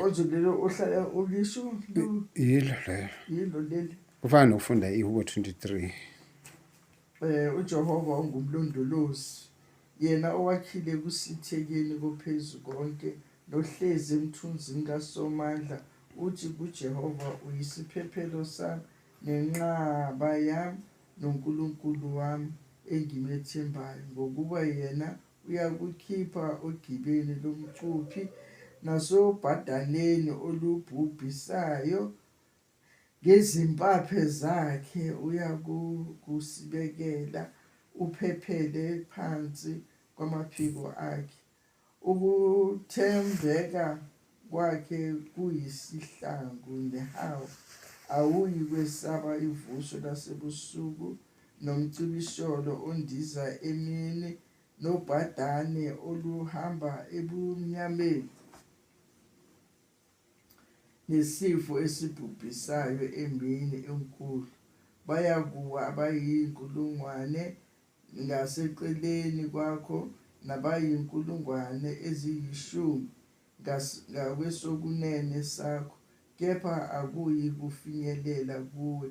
Ozo lelo ohlala ulisho. Yilo lelo. Yilo lelo. Kufana nokufunda iHubo 23. Eh uJehova ungumlondolozi. Yena owakhile kusithekeni kophezu konke nohlezi emthunzini kaSomandla uthi kuJehova uyisiphephelo sami nenqaba yami noNkulunkulu wami engimethembayo ngokuba yena Uyakukhipha ogibeni lomcuphi nasobhadaleni olubhubhisayo, ngezimpaphe zakhe uyakusibekela uphephele phansi kwamaphiko akhe. Ukuthembeka Kwakhe kuyisihlangu nehawu, awuyi kwesaba ivuso lasebusuku, nomcibisholo ondiza emini, nobhadane oluhamba ebumnyameni, nesifo esibhubhisayo emini enkulu. Bayakuwa abayinkulungwane, ngaseceleni kwakho nabayinkulungwane eziyishumi ngakwesokunene sakho, kepha akuyi kufinyelela kuwe.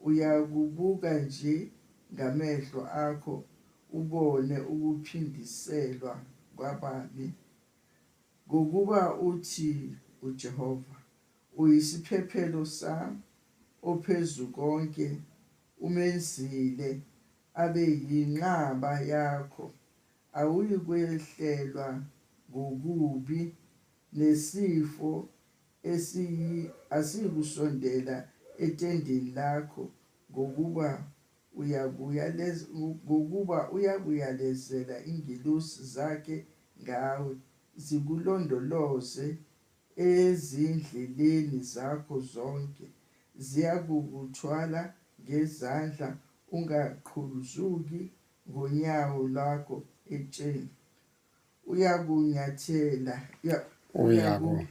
Uyakubuka nje ngamehlo akho ubone ukuphindiselwa kwababi. Ngokuba uthi uJehova, Uyisiphephelo sami, oPhezu konke umenzile abe yinqaba yakho, awuyikwehlelwa ngokubi, nesifo esiyi asiyikusondela etendeni lakho, ngokuba uyakuyalez ngokuba uyakuyalezela ingelosi zakhe ngawe, zikulondoloze Ezindleleni zakho zonke ziyakukuthwala ngezandla, ungaqhuzuki ngonyawo lwakho etsheni. Uyakunyathela, uya- Uyaku-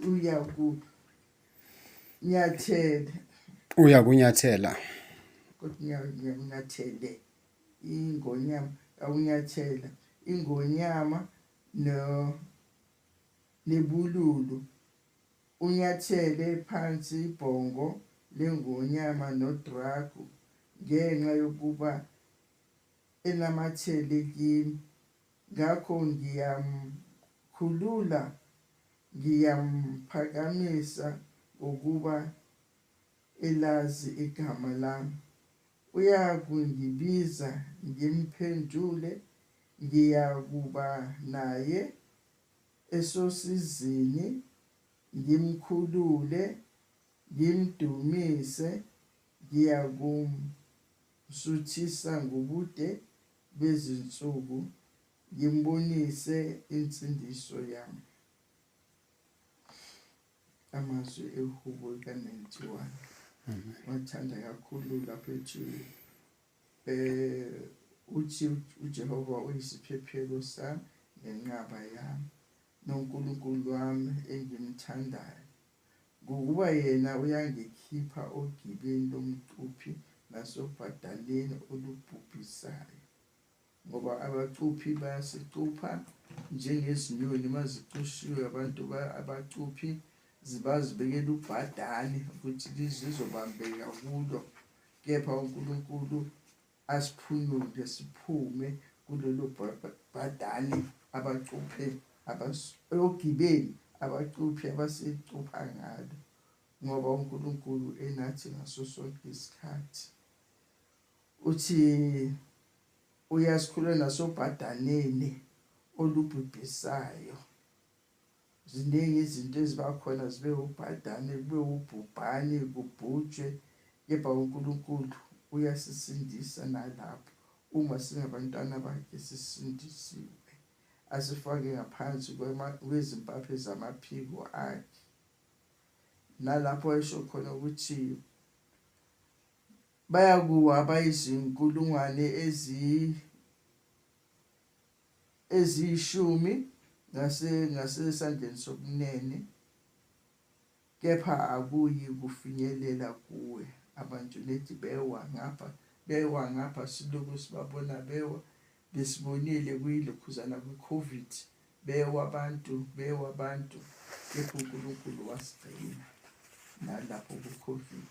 uyaku- uyakunyathela, uyakunyathela kodwa unya- uyakunyathele ingonyama, awunyathela ingonyama no Libululu, Unyathele phansi ibhongo leNgonyama Nodragu ngenxa yokuba enamathele kimi, ngakho ngiyamkhulula, ngiyamphakamisa ngokuba elazi igama lami. Uyakungibiza ngimphendule ngiyakuba naye esosizini ngimkhulule ngimdumise ngiyakumsuthisa ngobude bezinsuku ngimbonise insindiso yami Amazwi ehubo lika-91 wathanda kakhulu lapho ethi um uthi uJehova uyisiphephelo sami nenqaba yami noNkulunkulu wami engimthandayo ngokuba yena uyangikhipha ogibeni lomcuphi nasobhadaleni olubhubhisayo ngoba abacuphi bayasicupha njengezinyoni uma zicushiwe abantu abacuphi zibazibekela ubhadane ukuthi lizizobambeka kulo kepha uNkulunkulu asiphunyule siphume kulelo bhadane abacuphe ogibeli abacuphi abasicupha ngalo ngoba uNkulunkulu enathi ngaso sonke isikhathi Uthi uyasikhulula nasobhadaneni olubhubhisayo. Ziningi izinto eziba khona zibe ubhadane, kube ubhubhane, kubhujwe, kepha uNkulunkulu uyasisindisa nalapho uma singabantwana bakhe sisindisiwe. Asifake ngaphansi kwezimpaphe zamaphiko akhe. Nalapho esho khona ukuthi Bayakuwa abayizinkulungwane eziyishumi ngasesandleni sokunene, kepha akuyi kufinyelela kuwe. Abantu nethi bewa ngapha, bewa ngapha, silokhu sibabona bewa. Besibonile kuyilokhuzana kwi-COVID, bewa abantu, bewa abantu, kepha uNkulunkulu wasigcina nalapho ku-COVID.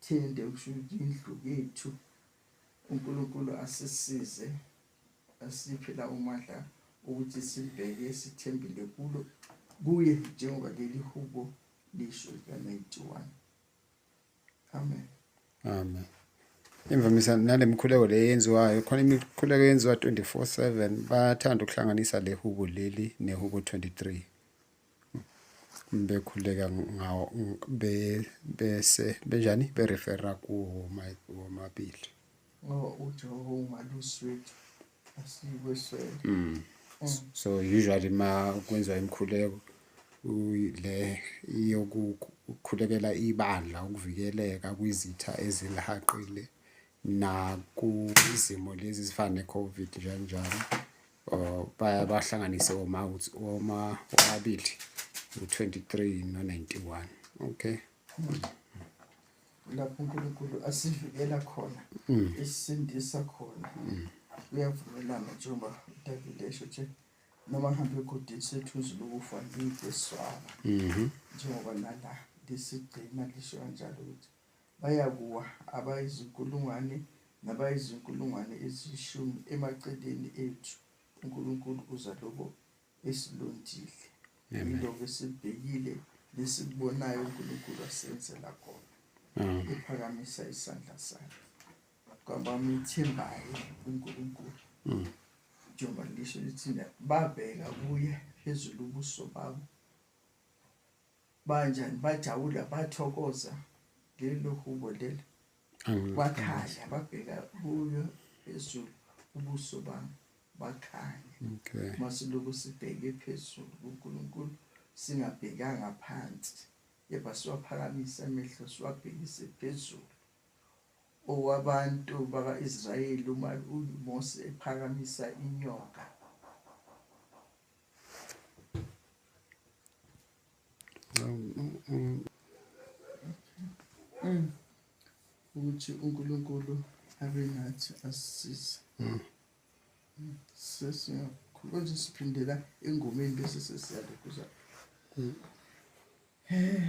Thende ukushuthi indlu yethu uNkulunkulu asisize asiphe la umadla ukuthi sibheke sithembile kulo kuye njengoba leli hubo lisho lika-91 amen amen imvamisa nale mikhuleko le yenziwayo khona imikhuleko yenziwa 24 7 bayathanda ukuhlanganisa le hubo leli nehubo 23 bekhuleka ngawo bese benjani berefera kuwomabili uJehova ungaluswethu asikweswele mm. mm. so usually ma kwenziwa imikhuleko le yokukhulekela ibandla ukuvikeleka kwizitha ezilihaqile nakwizimo lezi ezifana ne-COVID njenjalo. or bahlanganise oma oma omabili u-23 no-91 okay lapho uNkulunkulu asivikela khona mm. isindisa khona mm. uyavumelana njengoba uDavid esho nje noma hambe egodini sethuzi lokufa ngiyiswaba mm-hmm. njengoba nala lisigcina lisho kanjalo ukuthi Bayakuwa abayizinkulungwane nabayizinkulungwane eziyishumi emaceleni ethu. UNkulunkulu uza lokho esilondile. Yilokho esibhekile nesikubonayo uNkulunkulu asenzela khona. Mm. Ephakamisa isandla sakhe. Kwabamethembayo uNkulunkulu. Mm. Njengoba lisho lithina babheka kuye phezulu ubuso babo banjani bajabula bathokoza lelo hubo lelo wakhala babheka kuyo phezulu ubuso bami bakhanye okay. masiloku sibheke phezulu kuNkulunkulu singabhekanga phansi kepha siwaphakamisa amehlo siwabhekise phezulu owabantu baka-Israyeli uma uMose ephakamisa inyoka Mm. ukuthi uNkulunkulu abe nathi asisize mm. mm. sesiyakhuluma nje siphindela engomeni bese sesiyalokhuza eh.